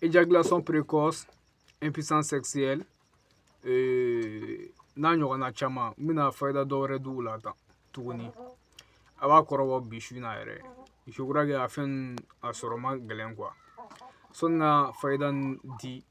éjaculation précoce impuissance sexuelle euh, n'a ɲɔgɔnna caman n bɛna fayida dɔ wɛrɛ d'u la tan tuguni a b'a kɔrɔbɔ bi su in na yɛrɛ je crois que a fɛn a sɔrɔ ma gɛlɛn quoi sɔni ka fayida di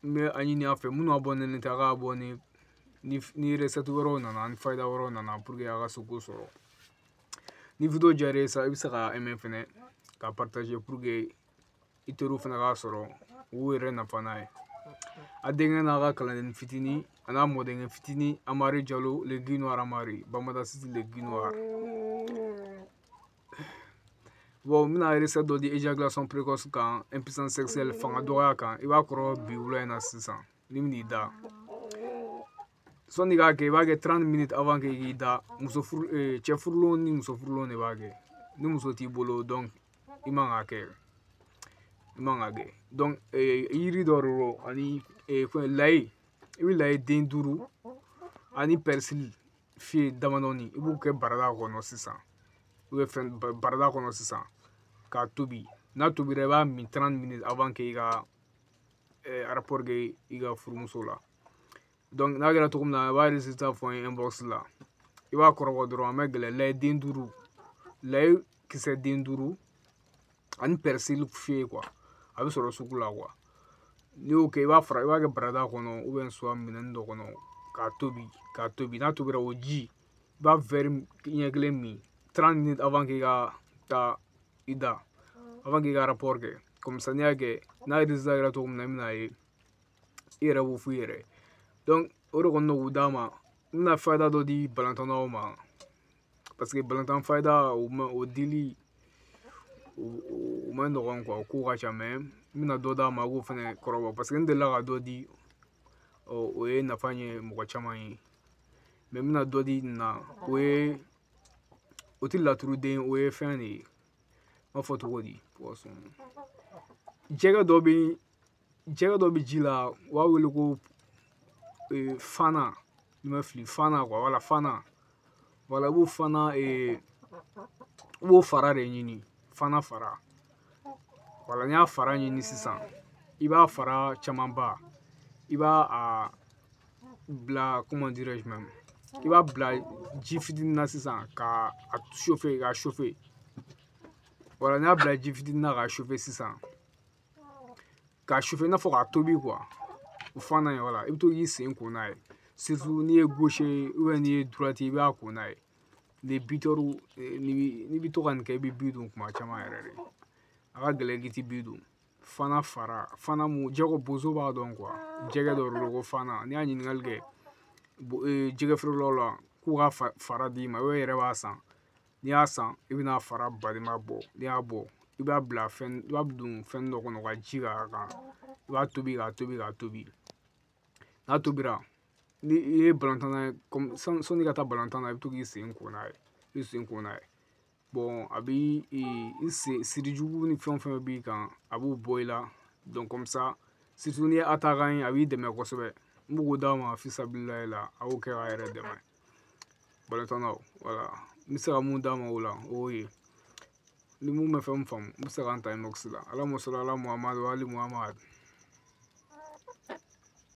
n bɛ a ɲini a fɛ minnu abonné tɛ a k'abonner ni recette wɛrɛw nana ni fayida wɛrɛw nana pour que a ka se k'o sɔrɔ ni video diyara i ye i bɛ se ka aimer fɛnɛ ka partager pour que i teriw fana k'a sɔrɔ u yɛrɛ nafa n'a ye a denkɛ n'a ka kalanden fitini an'a mɔdenkɛ fitini amari jalo le guy noir amari bamada siti le guy noir bon n bɛna recette dɔ di éjaculation précoce kan impuissance sexuelle fanga dɔgɔya kan i b'a kɔrɔbɔ bi wula in na sisan n'i bɛn'i da sɔni k'a kɛ i b'a kɛ 30 minutes avant que i k'i da muso furu eh, cɛ furulenw ni muso furulenw de b'a kɛ ni muso t'i bolo donc i man k'a kɛ i man k'a kɛ donc eh, yiri dɔ de don ani eh, fɛn layi i bɛ layi den duuru ani persil feuille damadɔni i b'u kɛ barada kɔnɔ sisan u bɛ fɛn barada kɔnɔ sisan k'a tobi n'a tobira i b'a min 30 minutes avant que i ka rapport kɛ i ka furumuso la n'a kɛra cogo min na i b'a résultat fɔ n ye inbox la i b'a kɔrɔbɔ dɔrɔn a ma gɛlɛn layi den duuru layi kisɛ den duuru ani persil feuille a bɛ sɔrɔ sugu la n'i y'o kɛ i b'a fara i b'a kɛ barada kɔnɔ soit minɛn dɔ kɔnɔ k'a tobi k'a tobi n'a tobira o ji i b'a wɛri ɲɛ kelen min trente minutes avant k'i ka taa i da avant k'i ka rapport kɛ komi n'i y'a kɛ n'a ye résultat yira cogo min na i bɛn'a ye i yɛrɛ b'o f'i yɛrɛ o de kɔni k'u d'a ma n bɛna fayida dɔ di balontannaw ma parce que balontan fayida o ma o dili o ma nɔgɔn quoi o ko ka ca mais n bɛna dɔ d'a ma a k'o fɛnɛ kɔrɔbɔ parce que n delila ka dɔ di ɔ o ye nafa ɲɛ mɔgɔ caman ye mais n bɛna dɔ di nin na o ye o tɛ laturuden o ye fɛn de ye n b'a fɔ cogo di jɛgɛ dɔ bɛ jɛgɛ dɔ bɛ ji la u b'a wele ko e, fana ni n ma fili fana quoi wala fana wala i b'o fana e, i b'o fara de ɲini fana fara wala n'i y'a fara ɲini sisan i b'a fara camanba i b'a a bila comment dirais-je même i b'a bila ji fitinin na sisan ka a chauffer ka chauffer wala n'i y'a bila ji fitinin na ka chauffer sisan k'a chauffer i n'a fɔ k'a tobi quoi o fana ye voilà i bɛ to k'i sen ko n'a ye n'i ye gauche n'i ye droite i b'a ko n'a ye les buteurs n'i bɛ to ka nin kɛ i bɛ bi don kuma caman yɛrɛ de a ka gɛlɛn k'i ti bi don fana fara fana mun jɛgɛ bozo b'a dɔn jɛgɛ dɔ de ko fana n'i y'a ɲininkali kɛ jɛgɛ feerelaw la k'u ka fara d'i ma o yɛrɛ b'a san n'i y'a san i bɛna fara balima bɔ n'i y'a bɔ i b'a bila fɛn i b'a don fɛn dɔ kɔnɔ ka ji k'a kan i b'a tobi k'a tobi k'a tobi n'a tobira ni i ye balontanna ye sɔnni ka taa balontan na i bɛ to k'i sen ko n'a ye i bɛ sen ko n'a ye a bɛ i sen sirijugu ni fɛn o fɛn b'i kan a b'o bɔ i la n'i ye attaquant ye a b'i dɛmɛ kosɛbɛ n b'o d'a ma fisabililayi la a y'o kɛ k'a yɛrɛ dɛmɛ balontannaw voilà n bɛ se ka mun d'a ma o la o y'o ye ni mun ma fɛn mun faamu o bɛ se ka n ta inbox la Allahumma salli ala Muhammad wa ali Muhammad